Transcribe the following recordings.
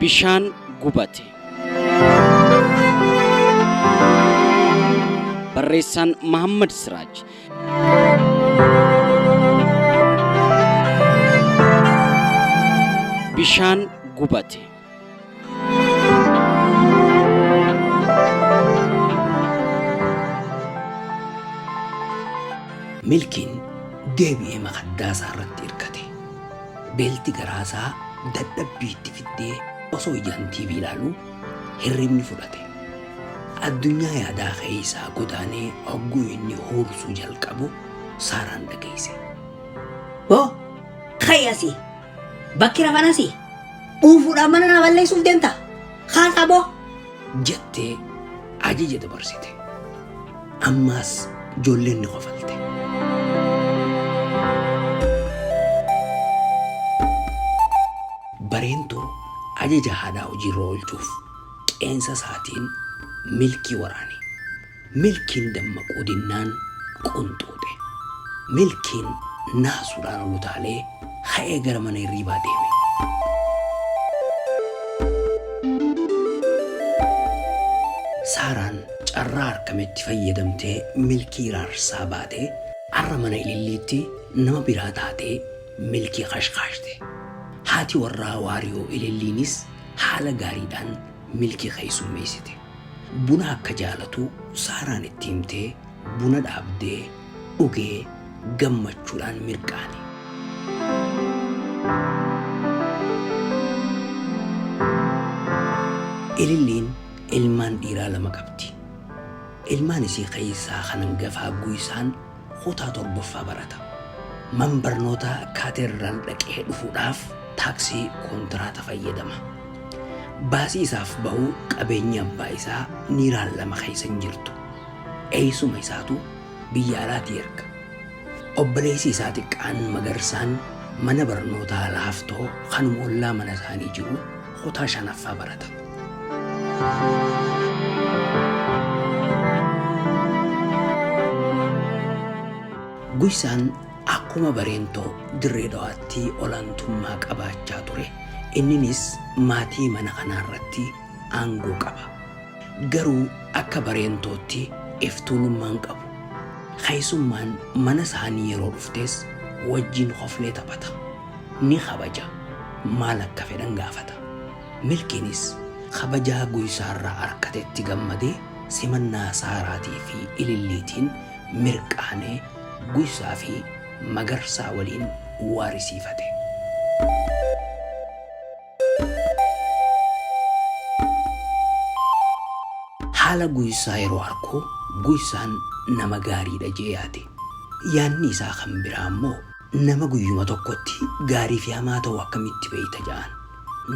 Bishaan gubate. Barreessaan Mahammad Siraaj. Bishaan gubate. Milkiin deebi'ee makaddaa isaa irratti hirkate. Beelti garaa isaa dadhabbii itti fiddee osoo ijaan TV ilaalu hirribni fudhate. Addunyaa yaadaa keessaa godaanee hogguu inni huursuu jalqabu Saaraan dhageesse. Hoo! Ka'i asii! Bakki rafan asii? Dhuufuudhaan mana naa balleessuuf deemta? Kaasaa boo! jettee ajaja dabarsite. Ammaas ijoolleen ni kofalte. Bareentu ajaja haadhaa hojiirra oolchuuf qeensa isaatiin milkii waraane. Milkiin dammaquu dinnaan qunxuuxe. Milkiin naasuudhaan ol utaalee ka'ee gara mana hirriibaa deeme. Saaraan carraa arkametti fayyadamtee Milkii raarsaa baatee arra mana Ililliitti nama biraa taatee Milkii kashkaashte. Haati warraa Waariyoo Ililliinis haala gaariidhaan Milkii keessummeessite. Buna akka jaalatu Saaraan itti himtee buna dhaabdee dhugee gammachuudhaan mirqaane. Ililliin ilmaan dhiiraa lama qabdi. Ilmaan isii keessaa kan hangafaa Guysaan Kutaa 7ffaa barata. Man barnootaa Kaateedraal dhaqee dhufuudhaaf taaksii kontiraata fayyadama. Baasii isaaf bahu qabeenyi abbaa isaa Niiraan lama keessa hin jirtu. Eessuma isaatu biyya alaatii erga. Obboleessi isaa xiqqaan Magarsaan mana barnootaa Laaftoo kanuma ollaa mana isaanii jiru kutaa shanaffaa barata. Guysaan akkuma Bareentoo Dirree Dhawaatti olaantummaa qabaachaa ture inninis maatii mana kanaa irratti aangoo qaba. Garuu akka Bareentootti iftuulummaa hin qabu. Keessummaan mana isaanii yeroo dhuftes wajjin koflee taphata. ni kabaja, maal akka fedhan gaafata. Milkiinis kabajaa Guyisaarraa arkatetti gammadee simannaa Saaraatii fi Ililliitiin mirqaanee Guyisaa fi Magarsaa waliin waarisiifate. Haala Guyisaa yeroo arku Guyisaan nama gaariidha jee yaade. Yaadni isaa kan biraa immoo. Nama guyyuma tokkotti gaarii fi hamaa ta'u akkamitti beeyta ja'an.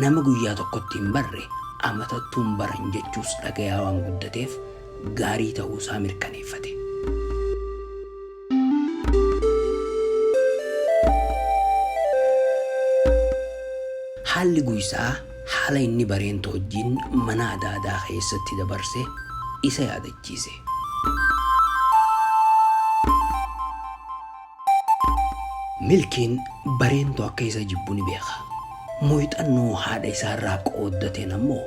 Nama guyyaa tokkotti hin barre amatattuu hin baran jechuus dhagayaa waan guddateef gaarii ta'uu isaa mirkaneeffate. Haalli guysaa haala inni bareen toojjiin mana adaadaa keessatti dabarse isa yaadachiise. Milkiin Bareentu akka isa jibbu ni beeka. Muyxannoo haadha isaa irraa qooddateen ammoo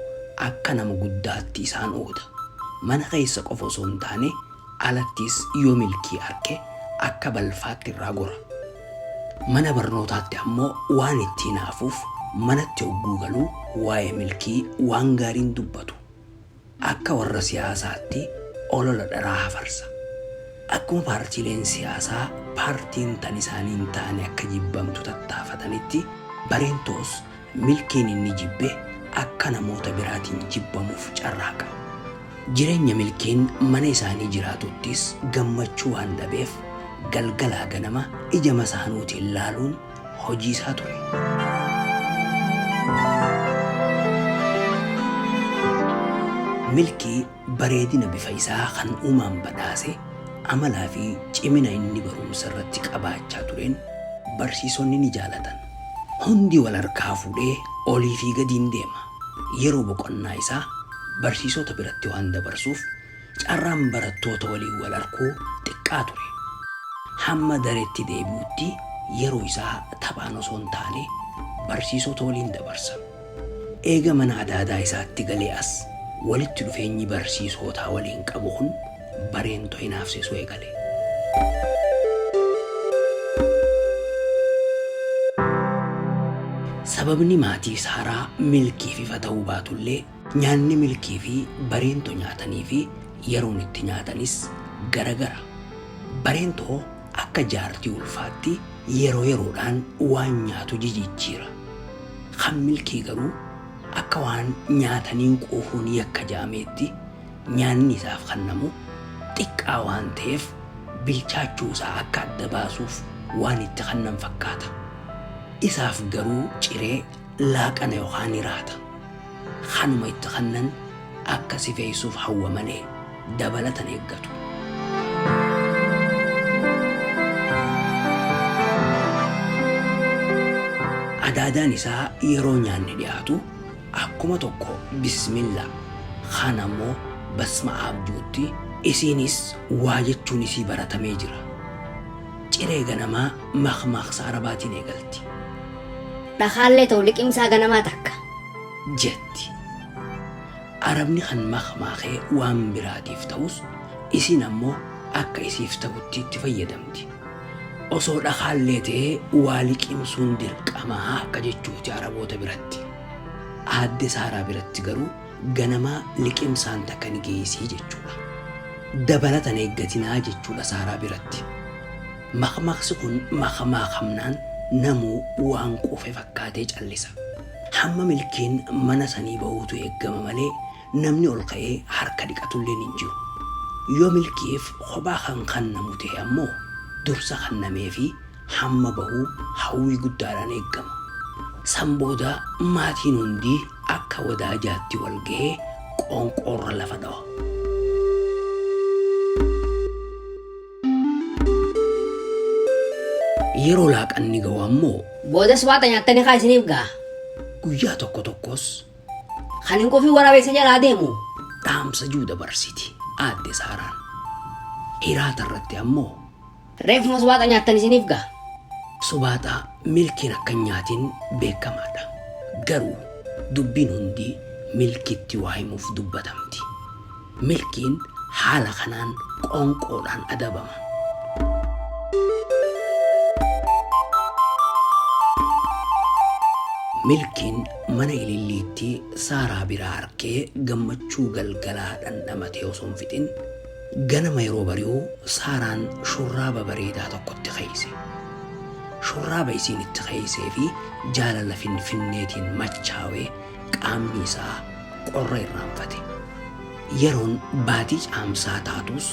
akka nama guddaatti isaan ooda. Mana keessa qofa osoo hin taane alattis yoo Milkii arke akka balfaatti irraa gora. Mana barnootaatti ammoo waan itti hinaafuuf manatti hogguu galu waa'ee Milkii waan gaarii hin dubbatu. Akka warra siyaasaatti olola dharaa hafarsa. Akkuma paartiileen siyaasaa paartiin tan isaanii hin taane akka jibbamtu tattaafatanitti Bareentoos milkiin inni jibbe akka namoota biraatiin jibbamuuf carraaqa. Jireenya Milkiin mana isaanii jiraatuttis gammachuu waan dhabeef galgalaa ganama ija masaanuutiin laaluun hojii isaa ture. Milkii bareedina bifa isaa kan uumaan badhaase, amalaa fi cimina inni barumsa irratti qabaachaa tureen barsiisonni ni jaalatan. Hundi wal harkaa fuudhee olii fi gadiin deema. Yeroo boqonnaa isaa barsiisota biratti waan dabarsuuf Carraan barattoota waliin wal arkuu xiqqaa ture. Hamma dareetti deebi'utti yeroo isaa taphaan osoo hin taane barsiisota waliin dabarsa. Eega mana adaadaa isaatti galee as walitti dhufeenyi barsiisootaa waliin qabu kun Bareentoo hinaafsisuu eegale. Sababni maatiis haraa milkiif ifa ta'uu baatullee Nyaanni Milkii fi Bareento nyaatanii fi yeroon itti nyaatanis gara gara. Bareento akka jaartii ulfaatti yeroo yeroodhaan waan nyaatu jijijjiira. Kan Milkii garuu akka waan nyaataniin quufuun yakka jedhameetti nyaanni isaaf kannamu xiqqaa waan ta'eef bilchaachuu isaa akka adda baasuuf waan itti kannan fakkaata. Isaaf garuu ciree laaqana yookaan hiraata kanuma itti kannan akka sifeessuuf hawwa malee dabalatan eeggatu. Adaadaan isaa yeroo nyaanni dhiyaatu akkuma tokko bismilla kaan ammoo basma aabjuutti isiinis waa jechuun isii baratamee jira. Ciree ganamaa makmaaksa Arabaatiin eegalti. Dhakaallee ta'u liqimsaa ganamaa takka. jetti. Arabni kan makmaakee waan biraatiif ta'us isiin ammoo akka isiif ta'utti itti fayyadamti. Osoo dhakaallee ta'ee waa liqimsuun dirqamaa akka jechuuti Araboota biratti. Aadde Saaraa biratti garuu ganamaa liqimsaan takka ni geessii jechuudha. Dabalata hin eeggatinaa jechuudha Saaraa biratti. Makmaaksi kun makmaakamnaan namuu waan quufe fakkaatee callisa. Hamma milkiin mana sanii bahuutu eeggama malee namni ol ka'ee harka dhiqatulleen hin jiru. Yoo milkiif kophaa kan kannamu tahe ammoo dursa kannameefi hamma bahu hawwii guddaadhaan eeggama. San booda maatiin hundi akka wadaajaatti wal gahee qoonqoorra lafa dhawa. Yeroo laaqanni ga'u ammoo. Boodas waaxa nyaattanii kaa isiniif ga'a. Guyyaa tokko tokkos. Kan hin quufin waraabessa jalaa deemu. Dhaamsa jiru dabarsiti aadde Saaraan. Hiraata irratti ammoo. Reefuma subaaxa nyaattan isiniif ga'a. Subaaxaa milkiin akka nyaatiin beekamaadha. Garuu dubbiin hundi milkitti waa himuuf dubbatamti. Milkiin haala kanaan qoonqoodhaan adabama. Milkiin mana ililliittii Saaraa biraa arkee gammachuu galgalaa dhandhamatee osoo hin fixin ganama yeroo bari'u Saaraan shurraaba bareedaa tokkotti keeyse. Shurraaba isiin itti keeysee fi jaalala finfinneetiin machaawee Qaamni isaa qorra irraanfate. Yeroon baatii caamsaa taatus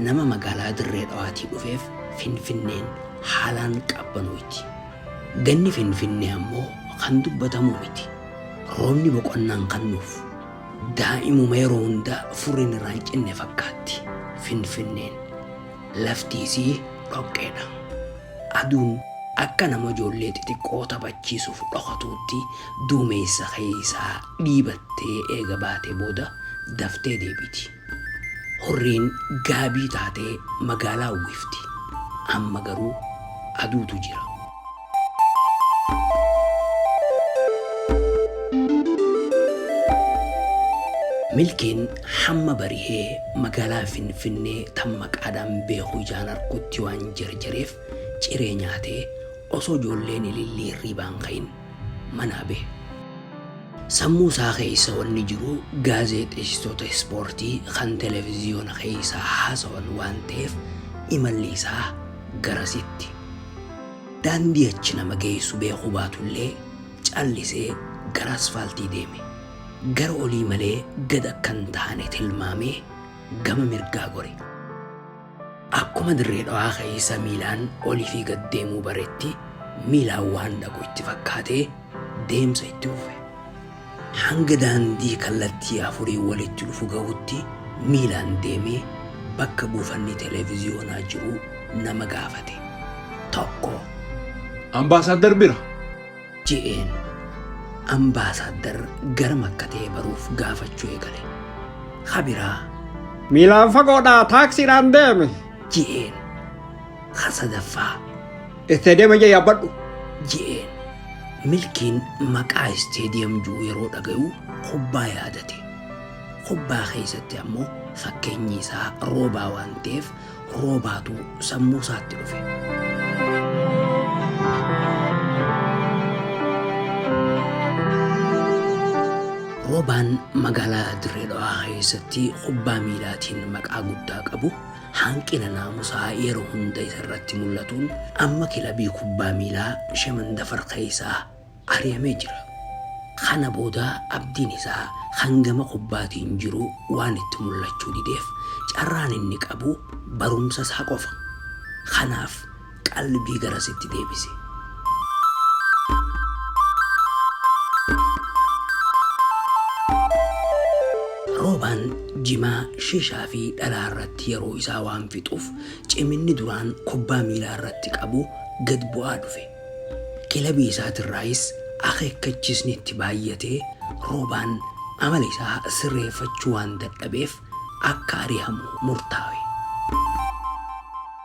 nama magaalaa Dirree Dhawaatii dhufeef Finfinneen haalaan qabbanooyti. Ganni Finfinnee ammoo kan dubbatamu miti. Roobni boqonnaan kan nuuf. Daa'imuma yeroo hunda furriin irraa hin cinne fakkaatti Finfinneen. Lafti isii dhoqqeedha. Aduun akka nama ijoollee xixiqqoo taphachiisuuf dhokatuutti duumeessa keessaa dhiibattee eega baatee booda daftee deebiti. Hurriin gaabii taatee magaalaa uwwifti. Amma garuu aduutu jira. Milkiin hamma barihee magaalaa Finfinnee tan maqaadhaan beeku ijaan argutti waan jarjareef ciree nyaatee osoo ijoolleen ilillii hirriibaa hin ka'in manaa bahe. Sammuu isaa keessa wanni jiru gaazeexeessitoota ispoortii kan televiziyoona keessa haasawan waan ta'eef imalli isaa garasitti. Daandii achi nama geessu beekuu baatullee callisee gara asfaaltii deeme. Gara olii malee gad akka hin taane tilmaamee gama mirgaa gore. Akkuma Dirree Dhawaa keessa miilaan olii fi gad deemuu baretti miilaan waan dhaqu itti fakkaatee deemsa itti fufe. Hanga daandii kallattii afuriin walitti dhufu gahutti miilaan deemee bakka buufanni televiziyoonaa jiru nama gaafate. Tokko. Ambaasaaddar bira. je'een. Ambaasaaddar garam akka ta'e baruuf gaafachuu eegale. Ka biraa. Miilaan fagoodhaa taaksiidhaan deeme. je'een. Ka sadaffaa. Itti adeema jee yaabbadhu. je'een. Milkiin maqaa isteediyam jiru yeroo dhagayu kubbaa yaadate. Kubbaa keessatti ammoo fakkeenyi isaa roobaa waan ta'eef roobaatu sammuu isaatti dhufe. Roobaan magaalaa Dirree Dhawaa keessatti kubbaa miilaatiin maqaa guddaa qabu Hanqina naamusaa yeroo hunda isa irratti mul'atuun amma kilabii kubbaa miilaa Shemandafar keessaa ari'amee jira. Kana booda abdiin isaa kan gama kubbaatiin jiru waan itti mul'achuu dideef carraan inni qabu barumsa isaa qofa. Kanaaf qalbii garasitti deebise. Roobaan jimaa, shishaa fi dhalaa irratti yeroo isaa waan fixuuf ciminni duraan kubbaa miilaa irratti qabu gad bu'aa dhufe. Kilabii isaatirraayis akeekkachiisni itti baay'atee roobaan amala isaa sirreeffachuu waan dadhabeef akka ari'amu murtaawe.